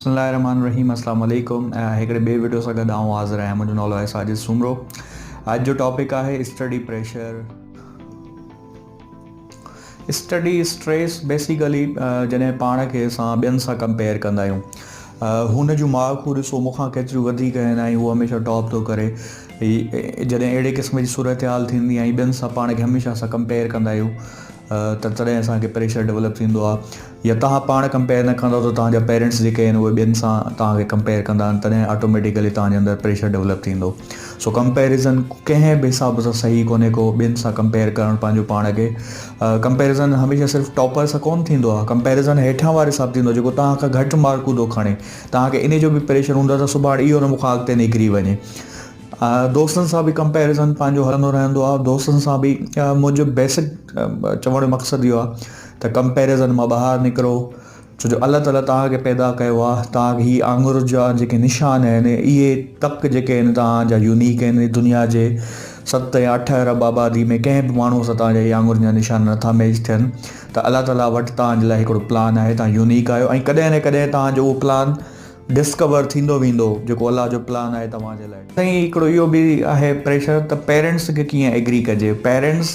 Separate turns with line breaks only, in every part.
بسم الله الرحمٰن الرحيم السلام عليڪم هڪڙي ٻي وڊيو سان گڏ آئون حاضر آهيان منهنجو نالو آهي ساجد سومرو اڄ جو ٽاپڪ آهي study pressure study stress basically جڏهن پاڻ کي اسان ٻين سان ڪمپيئر ڪندا آهيون هن جون مارڪون ڏسو مونکان ڪيتريون وڌيڪ آهن ۽ هو هميشه ٽاپ ٿو ڪري جڏهن اهڙي قسم جي صورتحال ٿيندي ۽ ٻين سان پاڻ کي هميشه اسان ڪمپيئر ڪندا آهيون ته تڏهن اسانکي پريشر ڊيولپ ٿيندو آهي يا توهان پاڻ ڪمپيئر نه ڪندو ته توهان جا پيرينٽس جيڪي آهن اهي ٻين سان توهان کي ڪمپيئر ڪندا ۽ تڏهن آٽوميٽيڪلي توهان جي اندر پريشر ڊولپ ٿيندو سو ڪمپيريزن ڪنهن به حساب سان صحيح ڪونهي ڪو ٻين سان ڪمپيئر ڪرڻ پنهنجو پاڻ کي ڪمپيريزن هميشه صرف ٽاپر سان ڪون ٿيندو آهي ڪمپيريزن هيٺان واري سان ٿيندو جيڪو توهان کان گهٽ مارڪون ٿو کڻي توهان کي ان جو به پريشر هوندو ته سڀاڻ اهو نه مون کان اڳتي نڪري وڃي دوستن سان به ڪمپيريزن پنهنجو هلندو رهندو آهي دوستن سان به منهنجو بيسڪ چوڻ جو مقصد اهو آهي ته ڪمپيرزن مان ٻاهر نڪرو ڇو جو الله تعالي توهان کي پيدا ڪيو آهي توهان کي هي آڱر جا جيڪي نشان آهن اهي تڪ جيڪي آهن توهان جا يونيڪ آهن دنيا جي ست يا اٺ ارب آبادي ۾ ڪنهن به ماڻهو سان توهان جا هي آڱر جا نشان نٿا ميچ ٿين ته الله تعالي وٽ توهان جي لاء هڪڙو پلان آهي توهان يونيڪ آهيو ۽ ڪڏهن نه ڪڏهن توهان جو اهو پلان ڊسڪور ٿيندو ويندو جيڪو الله جو پلان آهي توهان جي لاء سائين هڪڙو اهو به آهي پريشر ته پيرنٽس کي ڪيئن ايگري ڪجي پيرنٽس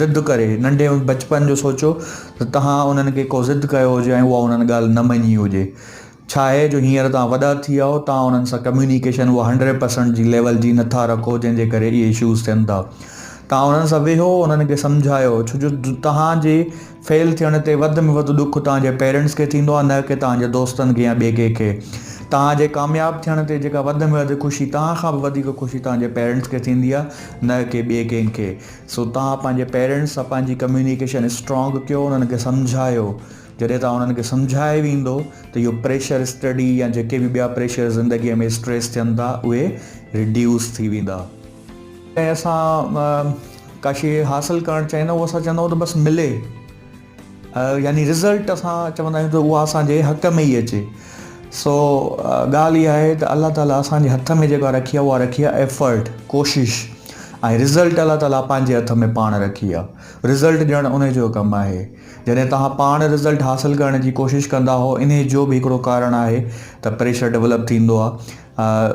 ضد ڪري ننڍي بچپن جو سوچيو ته توهان انهن کي ڪو ضد ڪيو هجي ۽ اها انهن ڳالهه نه مڃي هجي ڇا آهي جو هينئر توهان وڏا ٿي ويا آهو توهان انهن سان ڪميونيڪيشن اها هنڊريڊ پرسنٽ جي ليول جي نه ٿا رکو جنهن جي ڪري اهي اشوز ٿين ٿا توهان انهن سان ويهو انهن کي سمجهايو ڇو جو توهان جي فيل ٿيڻ تي وڌ ۾ وڌ ڏک توهان جي پيرنٽس کي ٿيندو آهي نه ڪي توهان جي دوستن کي يا ٻئي ڪنهن کي توهان جي ڪامياب ٿيڻ تي جيڪا وڌ ۾ وڌ خوشي توهان کان به وڌيڪ خوشي توهان جي پيرنٽس کي ٿيندي آهي نه ڪي ٻئي ڪنهن کي سو توهان پنهنجي پيرنٽس سان پنهنجي ڪميونيڪيشن اسٽرانگ ڪيو انهن کي سمجهايو جڏهن توهان انهن کي سمجهائي ويندو ته اهو پريشر اسٽڊي يا جيڪي به ٻيا پريشر زندگي ۾ اسٽريس ٿين ٿا اهي ريڊيوس ٿي ويندا ۽ اسان ڪا شيء حاصل ڪرڻ چاهيندا اهو اسان چوندو ته بس ملي يعني رزلٽ اسان چوندا آهيون ته اها اسان جي حق ۾ ئي اچي سو ڳالهه اها آهي ته الله تعالي اسان جي هٿ ۾ جيڪا رکي آهي اها رکي آهي ايفرٽ ڪوشش ۽ رزلٽ الله تعالي پنهنجي هٿ ۾ پاڻ رکي آهي رزلٽ ڄڻ ان جو ڪم آهي جڏهن توهان پاڻ رزلٽ حاصل ڪرڻ جي ڪوشش ڪندا هو ان جو به هڪڙو ڪارڻ آهي ته پريشر ڊولپ ٿيندو آهي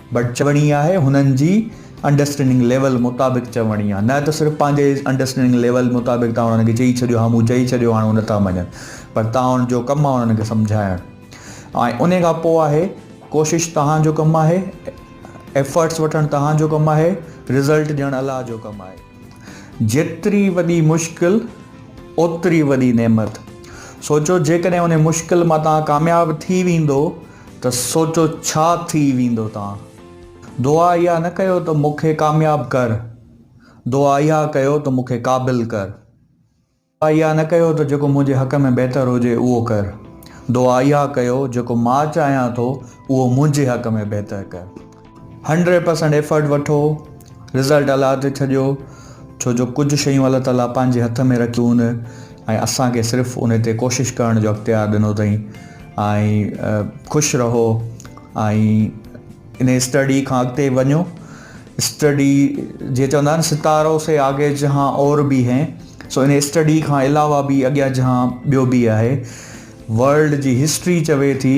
بٽ چوڻي آهي هنن جي انڊرسٽينڊنگ ليول مطابق چوڻي آهي نه ته صرف پنهنجي انڊرسٽينڊنگ ليول مطابق تان انهن کي چئي ڇڏيو ها مون چئي ڇڏيو هاڻي هو نٿا مڃن پر تان جو ڪم آهي انهن کي سمجهائڻ ۽ ان کان پوء آهي ڪوشش تهان جو ڪم آهي ايفرٽس وٺڻ تهان جو ڪم آهي رزلٽ ڏيڻ الله جو ڪم آهي جيتري وڏي مشڪل اوتري وڏي نعمت سوچو جيڪڏهن ان مشڪل مان تان ڪامياب ٿي ويندو ته سوچو ڇا ٿي ويندو توهان دعا اها نه ڪيو ته مون کي ڪامياب ڪر دعا اها ڪيو ته مون کي قابل ڪر دعا اها نه ڪيو ته جيڪو منهنجي حق ۾ بهتر هجي اهو ڪر دعا اها ڪيو جيڪو مان چاهيان ٿو اهو منهنجي حق ۾ بهتر ڪر. هنڊريڊ پرسينٽ ايفرٽ وٺو رزلٽ الله تي ڇڏيو ڇو جو ڪجهه شيون الله تعالي پنهنجي هٿ ۾ رکيون هوند ۽ اسان کي صرف ان تي ڪوشش ڪرڻ جو اختيار ڏنو اٿئي ۽ خوش رهو ۽ ان اسٽڊي کان اڳتي وڃو اسٽڊي جي چوندا آهن ستارو سي آگي جهان اور به هي سو ان اسٽڊي کان علاوه به اڳيان جهان ٻيو به آهي ورلڊ جي هسٽري چوي ٿي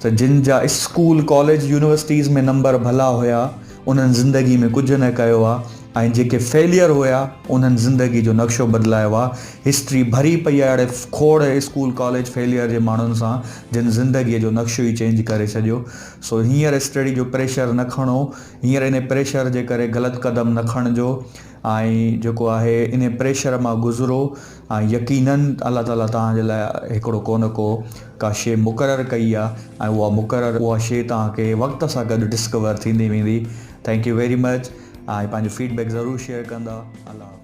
ته جن جا اسڪول، ڪاليج، يونيورسٽيز ۾ نمبر ڀلا هيا انهن زندگي ۾ ڪجهه نه ڪيو آ ۽ جيڪي فيليئر هيا انهن زندگي جو نقشو بدلايو آ، هسٽري ڀري پئي آ اهڙي کوڙ اسڪول ڪاليج فيليئر جي ماڻهن سان جن زندگي جو نقشو ئي چينج ڪري ڇڏيو سو هينئر اسٽڊي جو پريشر نه کڻو هينئر انهي پريشر جي ڪري غلط قدم نه کڻجو ۽ جيڪو آهي انهي پريشر مان گذرو. ۽ يقينن الله تعالي توهان جي لاء هڪڙو ڪو نه ڪو ڪا شيء مقرر ڪئي آ ۽ اها مقرر اها شيء توهان کي وقت سان گڏ ڊسڪور ٿيندي ويندي ٿينڪ يو ويري مچ ۽ پنهنجو فيڊ بيڪ ضرور شيئر ڪندا الله حافظ.